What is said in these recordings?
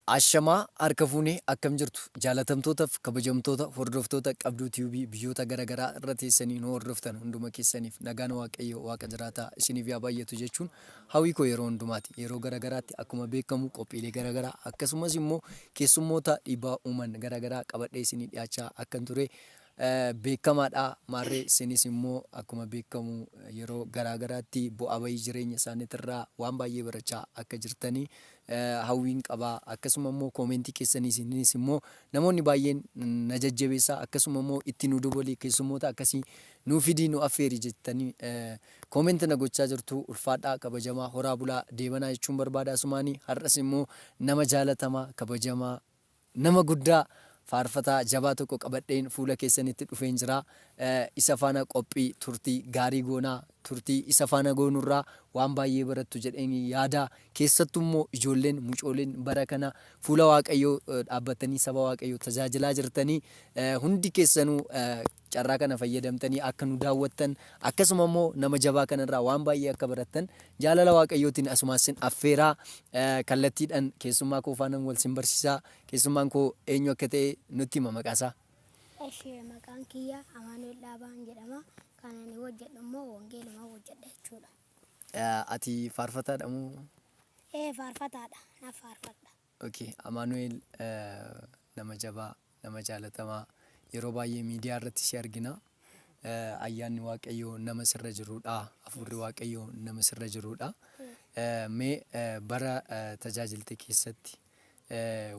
Ashamaa harka fuune akkam jirtu jaalatamtootaf kabajamtoota hordoftoota qabduu tube biyyoota gara garaa irra teessanii nu hordoftan hunduma keessaniif nagaan waaqayyoo waaqa jiraataa isiniif yaa baay'atu jechuun hawii koo yeroo hundumaati yeroo gara garaatti akkuma beekamu qophiilee gara garaa akkasumas immoo keessummoota dhiibbaa uuman gara garaa qabadhee isinii dhiyaachaa akkan ture beekamaadha. Maarree sinis immoo akkuma beekamu yeroo garaa garaatti bu'aa ba'ii jireenya isaaniitirraa waan baay'ee barachaa akka jirtani hawwiin qaba. Akkasuma immoo koomentii keessaniisinis immoo namoonni baay'een na jajjabeessa. Akkasuma immoo itti nu dubali keessummoota akkasii nu fidii nu affeeri jettanii koomenti na gochaa jirtu. Ulfaadhaa kabajamaa horaa bulaa deebanaa jechuun barbaada asumaani. Har'as immoo nama jaalatamaa kabajamaa Nama guddaa, faarfataa jabaa tokko qabadheen fuula keessanitti dhufeen jira. Isa faana qophii turtii gaarii goona. Turtii isa faana goonu irraa waan baay'ee barattu jedheen yaada. Keessattuu immoo ijoolleen, mucooleen bara kana fuula Waaqayyoo dhaabbattanii saba Waaqayyoo tajaajilaa jirtanii hundi keessanuu Carraa kana fayyadamtanii akka nu daawwattan, akkasuma immoo nama jabaa kana irraa waan baay'ee akka barattan jaalala Waaqayyootiin asumaan sin affeera. Kallattiidhaan keessummaa koo faanan wal sin barsiisa. Keessummaan koo eenyu akka ta'e nutti hima maqaa isaa. Eshi maqaan kiyya Amaanu'el Dhaabaan jedhama. Kan ani hojjedhu immoo wangeeluma hojjedha jechuudha. Ati faarfataadha moo? Ee faarfataadha. Nan faarfadha. Ok Amaanu'eel nama jabaa nama jaalatamaa yeroo baay'ee miidiyaa irratti si argina ayyaanni waaqayyoo nama sirra jiruudha hafuurri waaqayyoo nama sirra jiruudha mee bara tajaajilte keessatti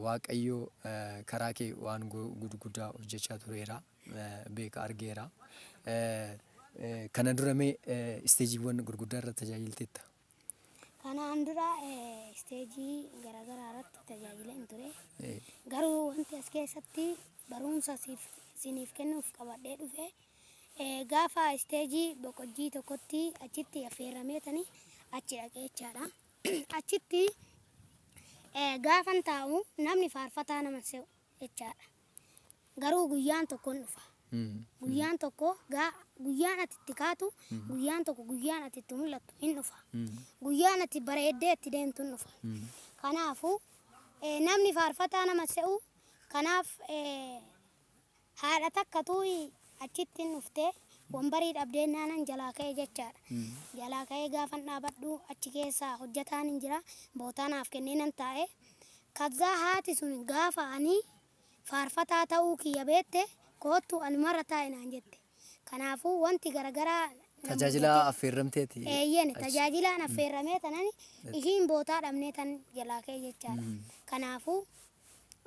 waaqayyoo karaa kee waan guddaa hojjechaa tureera beeka argeera kana dura mee isteejiiwwan gurguddaa irra tajaajilteetta. Kanaan dura eh, isteejii garaagaraa irratti tajaajila hin ture. Eh, Garuu wanti as keessatti barumsa siif siniif kennuuf qabadhee dhufe eh, gaafa isteejii boqojjii tokkotti achitti affeerrameetani achi dhaqee jechaadha. Achitti eh, gaafan taa'u namni faarfataa nama se'u jechaadha. Garuu guyyaan tokko in dhufa. Guyyaan tokko gaa guyyaan ati itti kaatu, guyyaan tokko guyyaan ati itti mul'attu in dhufa. Guyyaan ati bareeddee itti deemtu in dhufa. Kanaafuu eh, namni faarfataa nama se'u kanaaf eh, haadha takkatu achitti in dhufte wambarii dhabdee naanan jalaa ka'e jechaadha. Jalaa ka'ee gaafan dhaabadhu achi keessa hojjetaan in jira bootaa naaf kennee nan taa'e. Kazzaa haati sun gaafa ani Faarfataa ta'uu kiyya beette, koottu anumarra taa'i naan jette. Kanaafuu wanti garagaraa na muudate. Tajaajila affeerramteeti? Eeyyeen, tajaajilaan affeerramee tanani ishiin bootaa dhabnee tan jalaa ka'e jechaadha. Kanaafuu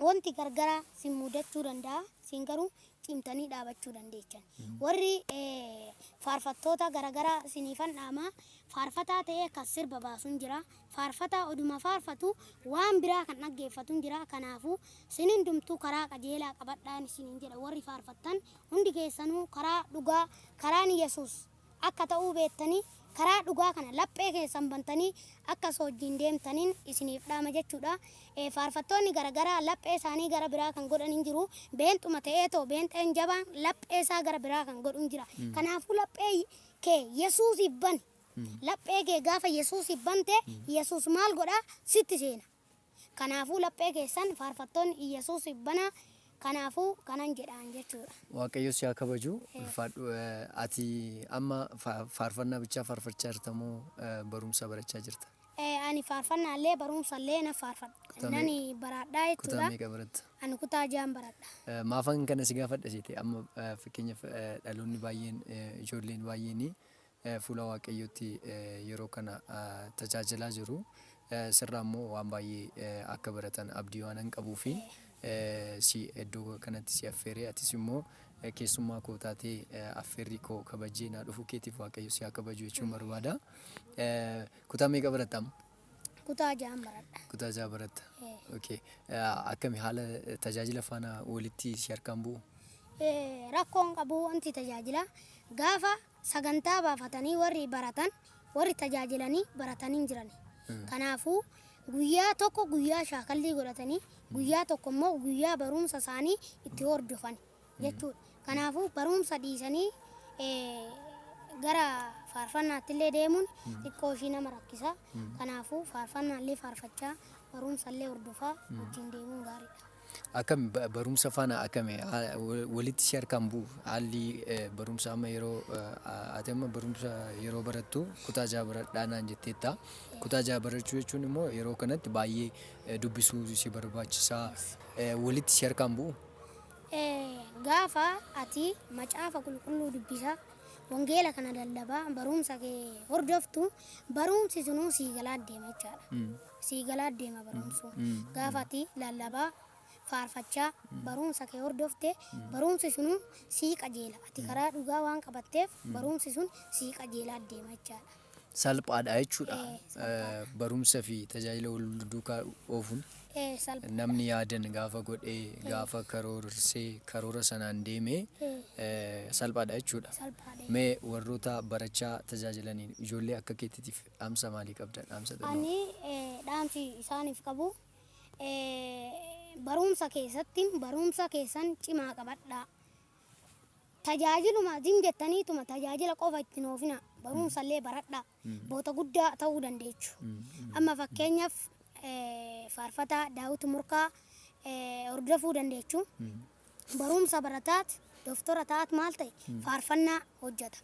wanti gargaraa sin muudachuu danda'a, isin garuu cimtanii dhaabachuu dandeechan. Warri faarfattoota garagaraa isiniifan dhaama, faarfataa ta'ee kan sirba baasun jira, Faarfataa oduma faarfatu waan biraa kan dhaggeeffatun jira kanaafu sin hundumtuu karaa qajeelaa qabadhaan isiniin jedha warri faarfattan hundi keessanuu karaa dhugaa karaan yesus akka ta'uu beettanii karaa dhugaa kana laphee keessan bantanii akka isa wajjin deemtanin isiniif dhaama jechuudha faarfattoonni garagaraa laphee isaanii gara biraa kan godhan hin jiru beenxuma ta'ee too beenxeen jabaan laphee isaa gara biraa kan godhu hin jira kanaafuu laphee kee yesuusiif bani Laphee kee gaafa Yesuusiif bante, Yesuus maal godha? Sitti seena. Kanaafuu laphee keessan faarfattoonni Iyyasuusiif banaa, kanaafuu kanan jedhaan jechuudha. Waaqayyo si haa kabaju. Ulfaadhu. Ati amma faarfannaa bichaa faarfachaa jirta moo barumsa barachaa jirta? Ani faarfannaa illee barumsa illee nan faarfadha. Nan baraadhaa jechuudha. Kutaa meeqa baratta? Ani kutaa ja'an baradha. Maafan kana si gaafadha seete amma fakkeenyaaf dhaloonni baay'een ijoolleen baay'een fuula Waaqayyootti yeroo kana tajaajilaa jiru. Sirraa immoo waan baay'ee akka baratan abdii waanan qabuufi si iddoo kanatti si affeere. Atis immoo keessummaa koo taatee affeerrii koo kabajjee naa dhufuu keetiif Waaqayyo si haa kabaju jechuun barbaada. Kutaa meeqa baratta amma? Kutaa ja'an baradha. Kutaa ja'a baratta. Ee. Okay. Akkami haala tajaajila faana walitti si harkaan bu'u? Ee, Rakkoon qabu wanti tajaajila gaafa Sagantaa baafatanii warri baratan, warri tajaajilanii baratan hin jirani. Kanaafuu, guyyaa tokko guyyaa shaakallii godhatanii, guyyaa tokko immoo guyyaa barumsa isaanii itti hordofan jechuu dha. Kanaafuu, barumsa dhiisanii gara faarfannaatti illee deemuun xiqqoo ishii nama rakkisa. Kanaafuu, faarfannaa illee faarfachaa, barumsa illee hordofaa wajjin deemuun gaarii dha. Akkami barumsa faana akkami walitti si harkaan bu'u haalli barumsa amma yeroo ati amma barumsa yeroo barattu kutaa jaha baradhaa naan jetteetta. Kutaa jaha barachuu jechuun immoo yeroo kanatti baay'ee dubbisuu si barbaachisaa walitti si harkaan bu'u. Gaafa ati macaafa qulqulluu dubbisaa wangeela kana lallabaa barumsa kee hordoftu barumsi sunuu sii galaa deema jechaadha. sii galaa deema barumsu gaafa ati lallabaa, faarfachaa, barumsa kee hordofte barumsi sunu sii qajeela ati karaa dhugaa waan qabatteef barumsi sun sii qajeelaa deema jechaadha. salphaadha jechuudha Ee, salphaadha. barumsa fi tajaajila wal duukaa oofuun Ee, salpha. namni yaadan gaafa godhee gaafa karoorsee karoora sanaan deemee Ee, eh, salphaadha jechuudha. salphaadha. Mee warroota barachaa tajaajilaniin ijoollee akka keettitiif Dhaamsa maalii qabdan? Dhaamsa xinno. Ani dhaamsi isaaniif qabu baruumsa keessatti baruumsa keessan cimaa qabadhaa. Tajaajiluma jim jettaniituma tajaajila qofa itti noofina baruumsa illee baradhaa. Boota guddaa ta'uu dandeechu. Amma fakkeenyaaf faarfataa daawwiti murkaa hordofuu dandeechu. Baruumsa barataat doktora ta'aat maal ta'e faarfannaa hojjeta.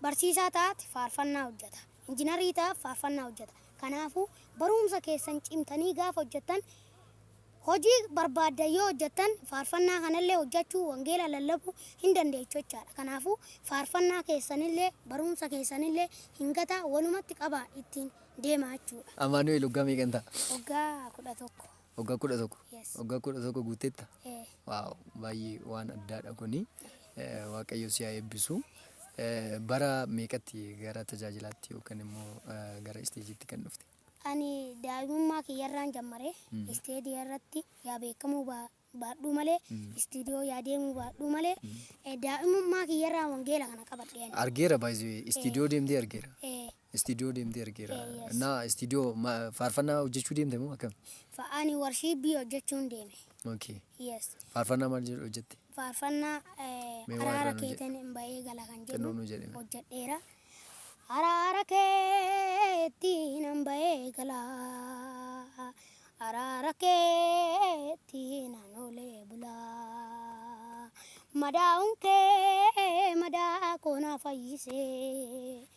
Barsiisaa ta'aati faarfannaa hojjata. Injinarii ta'aaf faarfannaa hojjata. Kanaafuu baruumsa keessan cimtanii gaafa hojjattan hojii barbaaddan yoo hojjattan faarfannaa kanallee hojjachuu wangeela lallabuu hin dandeechu jechaadha. Kanaafuu faarfannaa keessanillee baruumsa keessanillee hin gataa walumatti qabaa ittiin deemaa jechuudha. Amaanu'eel waggaa meeqan ta'a? Waggaa 11. Waggaa kudha tokko. Yes. Waggaa kudha tokko guuttetta. Ee. Waaw baay'ee waan addaadha kuni. Eh, Waaqayyo si haa eebbisu. Eh, Bara meeqatti gara tajaajilaatti yookaan immoo eh, gara isteejiitti kan dhufte? Ani daa'imummaa kiyyarraan jammare isteedii irratti yaa beekamuu baa- baadhuu malee istiidiyoo yaa deemuu baadhuu malee eh, daa'imummaa kiyyarraa wangeela kana qabadhe ani. Argeera baay'ee istiidiyoo deemtee argeera. Eh, Istiidiyoo deemtee argeera. Eh, yes. Naa istiidiyoo ma- faarfannaa hojjechuu deemte moo akkam? Fa- Ani warshiipii hojjechuun deeme. Okay. Yes. Faarfannaa maal jedhu hojjette? Faarfannaa eh, Mee waa araara irraa nu jedhi. keetiin hin ba'ee gala kan Xinnoo jedhu nu jedhi. hojjedheera. Araara keetiin hin ba'ee gala. Araara keetiin hin oolee bula. Madaa'uun kee madaa koo na fayyisee.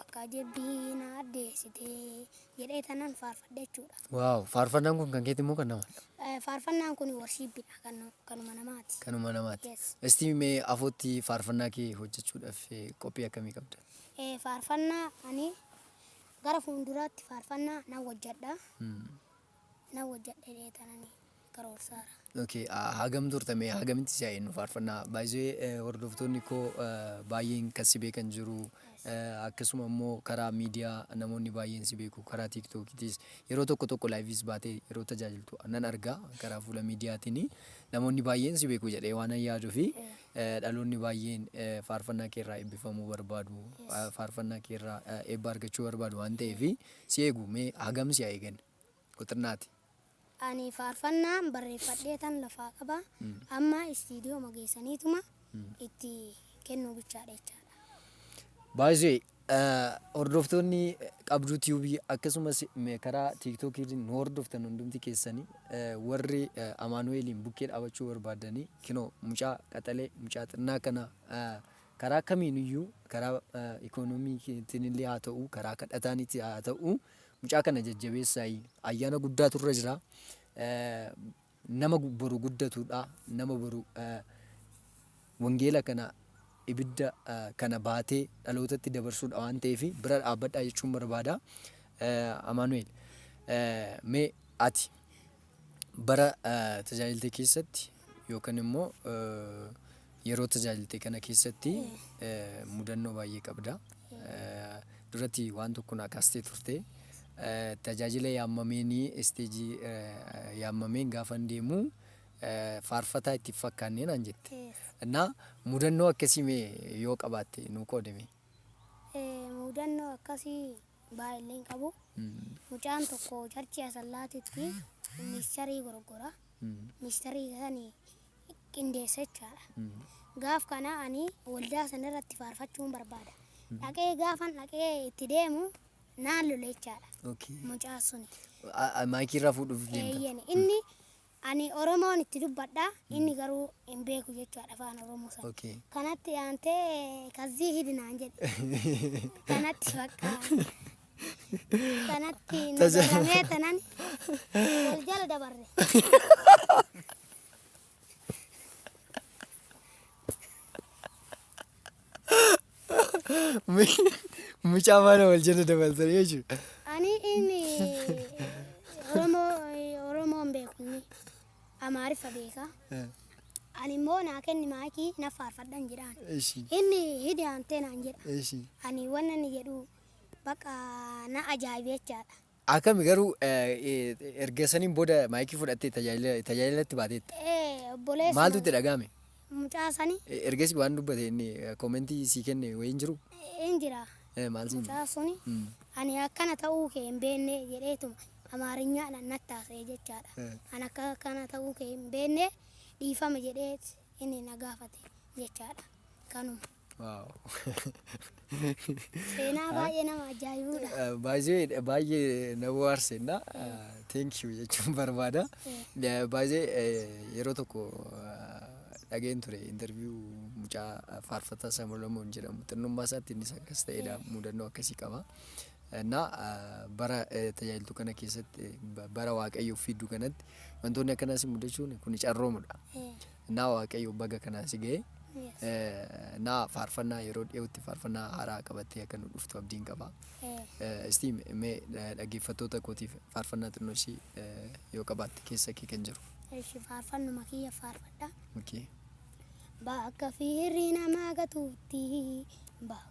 Akka jabbii na addeessite jedhee tanan faarfadhe jechuudha. Waaw faarfannaan kun kan keeti moo kan nama? Eh, Faarfannaan kun warshiibbidha kan kanuma namaati. Kanuma namaati. Yes. Isti mee afootti faarfannaa kee hojjechuudhaaf eh, qophii akkamii qabda? Eh, Faarfannaa ani gara fuulduraatti faarfannaa nan hojjedha. Mm. Nan hojjedhe jedhee tanani. karoorsaara. Ok hagam turta mee hagamitti si haa eennu faarfannaa by the way hordoftoonni koo baay'een kan si beekan jiru akkasuma immoo karaa miidiyaa namoonni baay'een si beeku karaa tiiktookiitis yeroo tokko tokko laayiviis baatee yeroo tajaajiltu nan argaa karaa fuula miidiyaatiin namoonni baay'een si beeku jedhee waan yaaduu fi dhaloonni baay'een faarfannaa kee irraa eebbifamuu barbaadu faarfannaa kee irraa eebba argachuu barbaadu waan ta'eef si eegu mee hagam si haa eeganne. Quxirnaati. Ani faarfannaan barreeffadheetan lafaa qaba. Amma istiidiyooma geessaniituma itti kennuu bichaadha jechaadha. Baay'ee hordoftoonni qabduu tiyuubii akkasumas karaa tiiktookii nu hordoftan hundumti keessanii warri amaanu'eeliin bukkee dhaabachuu barbaadanii kinoo mucaa qaxalee mucaa xinnaa kana karaa kamiiniyyuu karaa ikoonomiitiin illee haa ta'u karaa kadhataanitti haa ta'u Mucaa kana jajjabeessaayi ayyaana guddaatu irra jira nama boru guddatudha nama boru wangeela kana ibidda kana baatee dhalootatti dabarsudha waan ta'eef bira dhaabbadhaa jechuun barbaada Amaanu'eel mee ati Bara tajaajilte keessatti yookan immoo yeroo tajaajilte kana keessatti mudannoo baay'ee qabda. Duratti waan tokko naa kaastee turte. Tajaajila yaammameenii isteejii yaammameen gaafan deemu faarfataa itti hin fakkaanne naan jette. Mudannoo akkasii mee yoo qabaatte nuu qoodimee? Mudannoo akkasii baay'eellee hin qabu. Mucaan tokko charchii asallaatitti miikicharii goroggora. Miikicharii isa sani qindeessa jechaadha. Gaaf kana ani waldaa sana irratti faarfachuun barbaada. Dhaqee gaafan dhaqee itti deemu naan lole jechaadha Okay. mucaan suni. A- a- Maayikii irraa fuudhuuf deemta. Eeyyani inni Ani Oromoon itti dubbadha, inni garuu hin beeku jechuudha afaan Oromoo sana. Okay. Kanatti aantee kazzii hidi naan jedhe. Kanatti bakka kanatti na Tasa- daramee tanan wal jala dabarre. Mucaa mana wal jala dabaltan jechuudha. Ani inni Oromoo Oromoon beeku inni Amaariffa beeka. Ani immoo naa kenni maayikii na faarfadhan jedhaan. Eshi Inni hidhi aantee naan jedha. eshi. Ani wanna inni jedhu bakka na ajaa'ibe jechaadha. Akami garuu erga saniin booda maayikii fudhattee tajaajilatti baateetta? Ee obboleessa Maaltu itti dhaga'ame? mucaa sani Ergasii waan dubbate inni koomentii sii kenne wayii hin jiru? hin jira Eh, Maal siin jedhe? mucaa suni Mm. ani akkana ta'uu kee hin beenne jedheetuma amaarinyaadhaan natti haasa'e jechaadha Eh. ani akka akkana ta'uu kee hin beenne dhiifama jedhee inni na gaafate jechaadha kanuma Seenaa baay'ee nama ajaa'ibudha. Baay'ee baay'ee na bohaarsenna. Thank you jechuun barbaada. Baay'ee yeroo tokko dhageen ture interview mucaa faarfataa Samolomoon jedhamu xinnummaa isaatti innis akkas ta'edha mudannoo akkasii qaba. Innaa bara tajaajiltuu kana keessatti bara waaqayyoof fidduu kanatti wantoonni akkanaas mudachuun kun carroomudha. Naa waaqayyoo baga kanaan si ga'e. Yes. Eh, Naa faarfannaa yeroo dhiyootti faarfannaa haaraa qabattee akka nu dhuftu abdiin qaba. Eh, Eh, Istii mee eh, dhaggeeffattoota kootiif faarfannaa xinnoo ishii eh, yoo qabaatte keessa kee kan jiru. Eshi faarfannuma kiyya faarfadha. Okay. Bakka fiirri namaa gatuutti. Bakka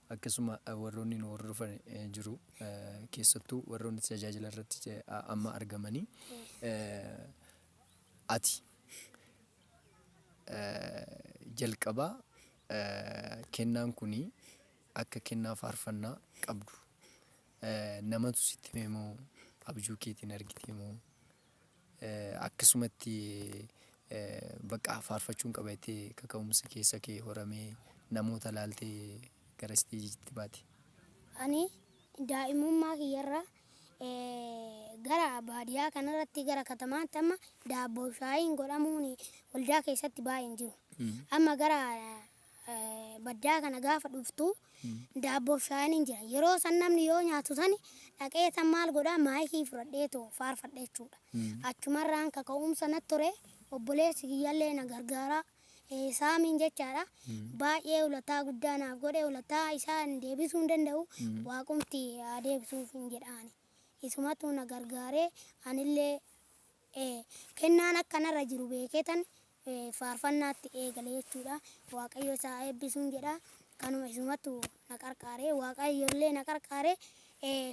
Akkasuma warroonni nu hordofan jiru. Keessattuu warroonni tajaajila irratti amma argamanii ati jalqaba kennaan kun akka kennaa faarfannaa qabdu namatu sitti hime moo abjuu keetiin argitee moo akkasumatti baqaa faarfachuun qaba jettee kaka'umsi keessa kee horamee namoota laaltee gara isteejiitti baate? Ani daa'imummaa kiyyarraa gara baadiyyaa kanarratti gara katamaatti amma daabboo shaayiin godhamuun waldaa keessatti baay'een jiru. Amma gara baddaa kana gaafa dhuftu daabboo fi shaayeen hin jiran. Yeroo san namni yoo nyaatu sani dhaqee tan maal godhaa maayikii fudhadhee too faarfadha jechuudha. Achumarraan kaka'umsa natti ture obboleessi kiyyallee na gargaaraa eh, saamiin jechaadha. Baay'ee ulataa guddaa naaf godhe ulataa isaa hin deebisuu hin danda'u waaqumti haa deebisuuf hin jedhaani. Isumatu na gargaaree anillee eh, kennaan akkanarra jiru beekee tan faarfannaatti eegale jechuudha. Waaqayyo isaa haa eebbisuun jedha. Kanuma isumattu na qarqaare. Waaqayyo illee na qarqaare.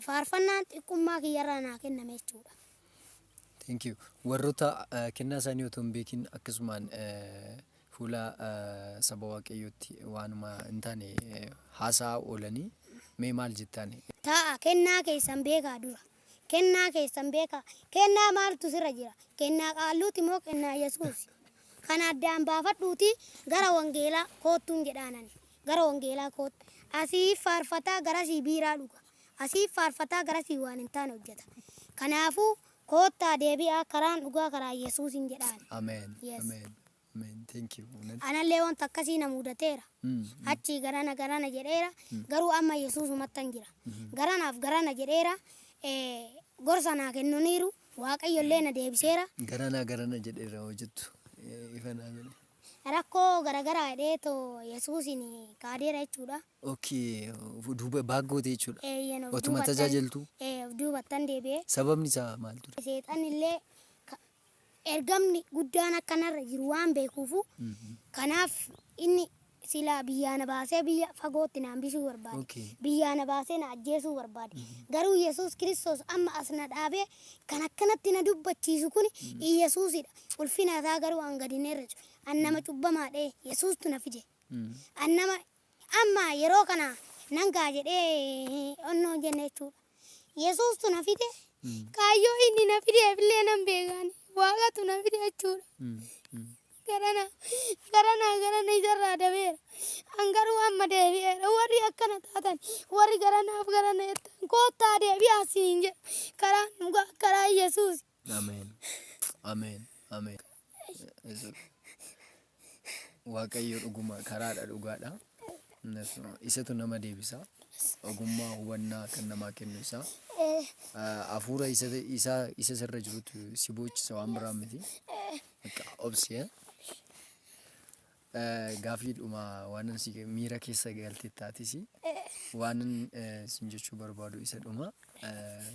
Faarfannaan xiqqummaa kiyyarraa naa kenname jechuudha. Thank you. Warroota eh, kennaa isaanii otoo hin beekin akkasumaan eh, fuula eh, saba waaqayyootti waanuma hin taane eh, haasa'aa oolanii mee maal jettaan? Taa'a kennaa keessan beekaa dura. Kennaa keessan beekaa. Kennaa maaltu sirra jira? Kennaa qaalluuti moo kennaa Yesuusi? Kana addaan baafadhuutii gara wangeelaa koottuun jedhaan ani. Gara wangeelaa kootta. Asii faarfataa garasii biiraa dhuga. Asii faarfataa garasii waan hin taane hojjeta. Kanaafuu koottaa deebi'aa karaan dhugaa karaa Yesuusiin jedhaan. Ameen. Yes. Ameen. Amen thank you Amen. Anallee wanta akkasii na muudateera. Achii garana garana jedheera. Garuu amma Yesuusumattan jira. Garanaaf garana jedheera. Eh, Gorsa naa kennaniiru. Waaqayyollee na deebiseera. Garanaa garana jedheera hoo jettu eh, ifa naa godhe. Rakkoo garagaraa jedhee too Yesuusin kaadeera jechuudha. Okay, of duuba baaggoote jechuudha. Eeyyan of Otuma duubattan- tajaajiltu Eh, of duubattan deebi'ee. sababni isaa maal ture? Seexannillee ka- Ergamni guddaan akka narra jiru waan beekuufuu, kanaaf inni silaa biyyaa na baasee biyya fagootti na hambisuu barbaade. Okay. Biyyaa na baasee na ajjeesuu barbaade. Garuu Yesuus Kiristoos amma as na dhaabee kan akkanatti na dubbachiisu kuni Iyyasuusidha. Ulfina isaa garuu an gadi hin herresu. An nama cubbamaadhee Yesuustu na fide. An nama Amma yeroo kana nan ka'a jedhee onnoo hin jenne jechuu dha. Yesuustu na fide, kaayyoo inni na fideef illee nan beeka ani. Waaqatu na fide jechuu dha. Garana, garana, garana isa irraa dabeera. An garuu amma deebi'eera. Warri akkana taatan, warri garanaaf garana jettan, koottaa deebi'aa siin jedha. Karaan dhugaa, karaan Yesuusi. Ameen. Ameen. Ameen. Yesus. Waaqayyo dhuguma karaadha dhugaadha. Innis Isatu nama deebisa. Ogummaa hubannaa kan namaa kennu isaa. Ah, Hafuura isa isa- isa sirra jirutu si boochisa waan biraa miti. Bakka obsi. eh. Eh, Gaafiidhuma waanan si miira keessa galte taatisi. Waanan eh, sin jechuu barbaadu isa dhuma. Eh,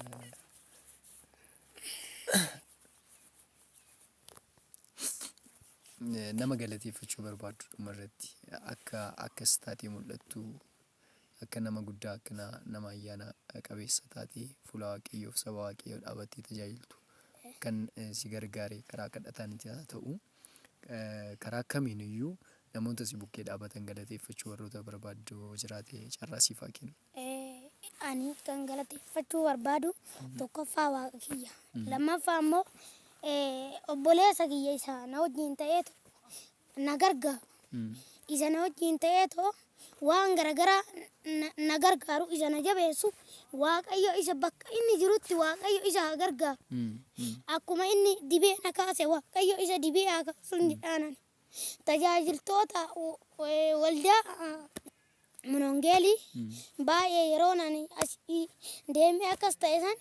Eh, nama galateeffachuu barbaaddu dhuma irratti akka akkas taatee mul'attu akka nama guddaa akka na- nama ayyaana qabeessa taatee fuula waaqayyoof saba waaqayyoo dhaabattee tajaajiltu kan eh, si gargaare karaa kadhataanitti haa ta'u eh, karaa kamiin iyyuu namoota si bukkee dhaabatan galateeffachuu warroota barbaaddu jiraate carraa siif haa kennu. Ani kan galateeffachuu barbaadu tokkoffaa waaqa kiyya. Lammaffaa immoo obboleessa kiyya isa na wajjin ta'eetu na gargaaru. Isa na wajjin ta'eetu waan garaagaraa na gargaaru isa na jabeessu waaqayyo isa bakka inni jirutti waaqayyo isa haa gargaaru. Akkuma inni dibee na kaase waaqayyo isa dibee haa kaasu jedhaan tajaajiltoota waldaa Munongeeli baay'ee yeroon ani asi deemee akkas ta'e san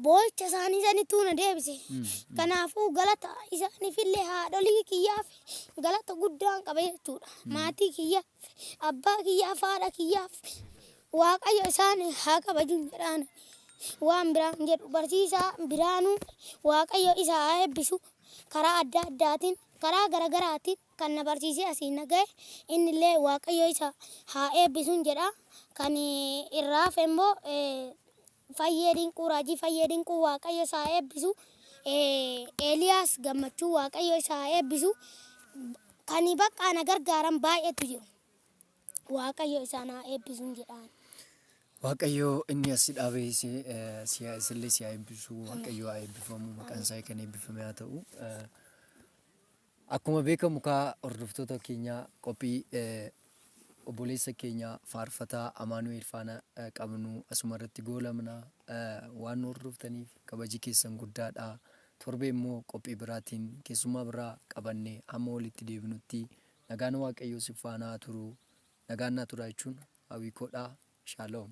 boo'icha isaanii sanittuu na deebise. Kanaafuu galata isaaniifillee haadholii kiyyaaf galata guddaan qaba jechuudha. Maatii kiyyaaf, abbaa kiyyaaf, haadha kiyyaaf Waaqayyo isaan haa kabajun jedhaan waan biraan jedhu barsiisaa biraanuu Waaqayyo isa haa eebbisu karaa adda addaatiin karaa garagaraatiin Kan na barsiisee asiin na ga'e, innillee Waaqayyo isa haa eebbisun jedha. Kan irraa hafe immoo Fayyee Dinquu, Raajii Fayyee Dinquu Waaqayyo isa haa eebbisu. Eeliyaas Gammachuu Waaqayyo isa haa eebbisu. Kan baqqaa na gargaaran baay'eetu jiru. Waaqayyo isaan haa eebbisun jedhaan. Waaqayyo inni as si dhaabe si eh, si haa- isillee si haa eebbisu. Waaqayyo haa eebbifamu. Maqaan isaa kan eebbifame haa ta'u. Eh, Akkuma beekamu kaa hordoftoota keenyaa qophii obboleessa keenya faarfataa Amaanu'eel faana qabnu asuma irratti goolabna. Waan nu hordoftaniif kabaji keessan guddaadha. Torbee immoo qophii biraatiin keessummaa biraa qabanne hamma walitti deebinutti nagaan Waaqayyoo sin faana haa turu. Nagaan naa turaa jechuun hawwii koodha. Shaaloom.